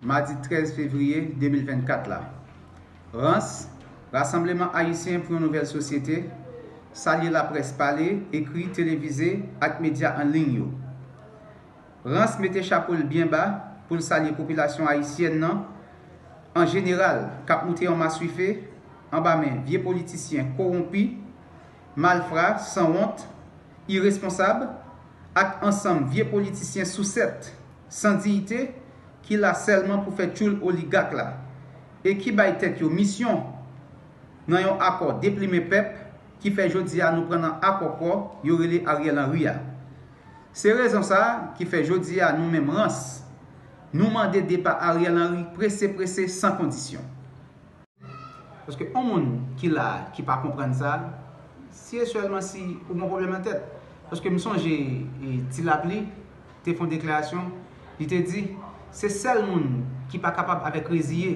Madi 13 fevriye 2024 la, rans, Rasanbleman Ayisyen pou yon Nouvèl Sosyete, salye laprès pale, ekri, televize ak medya an liy yo. Rans mete chapo l byen ba pou l salye popilasyon ayisyèn nan an jeneral k ap moute an maswife anba men vye politisyen kowonpi, malfra, sanwont, iresponsab ak ansanm vye politisyen sousèt. san diyite ki la sèlman pou fè tchoul oligak la e ki bay tèt yo misyon nan yon akò deplimen pèp ki fè jodi a nou pran nan akòkò yo rele Ariel Henry a. Se rezon sa ki fè jodi a nou menm rans nou mande depa Ariel Henry prese prese san kondisyon. Paske on moun ki la a ki pa konprann sa, si e sèlman si ou gon pwoblèm nan tèt. Paske m sonje Ti Lapli te fon deklarasyon, li te di, se sèl moun ki pa kapab avèk reziye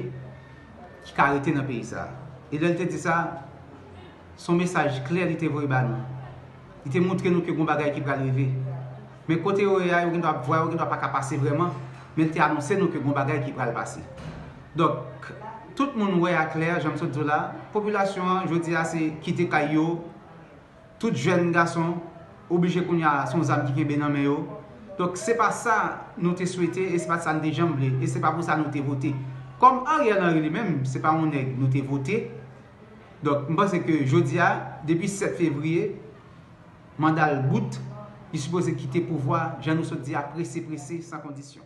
ki ka rete nan peyi sa. E lè l te di sa, Se yon mesaj klè li te voye ba nou. Li te montre nou ke gon bagay ki pral rive. Men kote yo ye a, yo gendwa ap vwa, yo gendwa pa ka pase vrèman, men li te anonse nou ke gon bagay ki pral pase. Donk, tout moun wè a klè, jan m sot di w la, popilasyon an jodi a se kite kay yo, tout jèn gason oblije kounye a se yon zam ki kenbe nan men yo. Donk, se pa sa nou te swete e se pa sa nou te janm vle e se pa pou sa nou te vote. Kòm Ariel Henry li menm, se pa yon nèg nou te vote. Donk, m panse ke jodi a, depi 7 fevriye, manda l bout, li sipoze kite pouvwa, jan nou sot di a, prese prese, san kondisyon.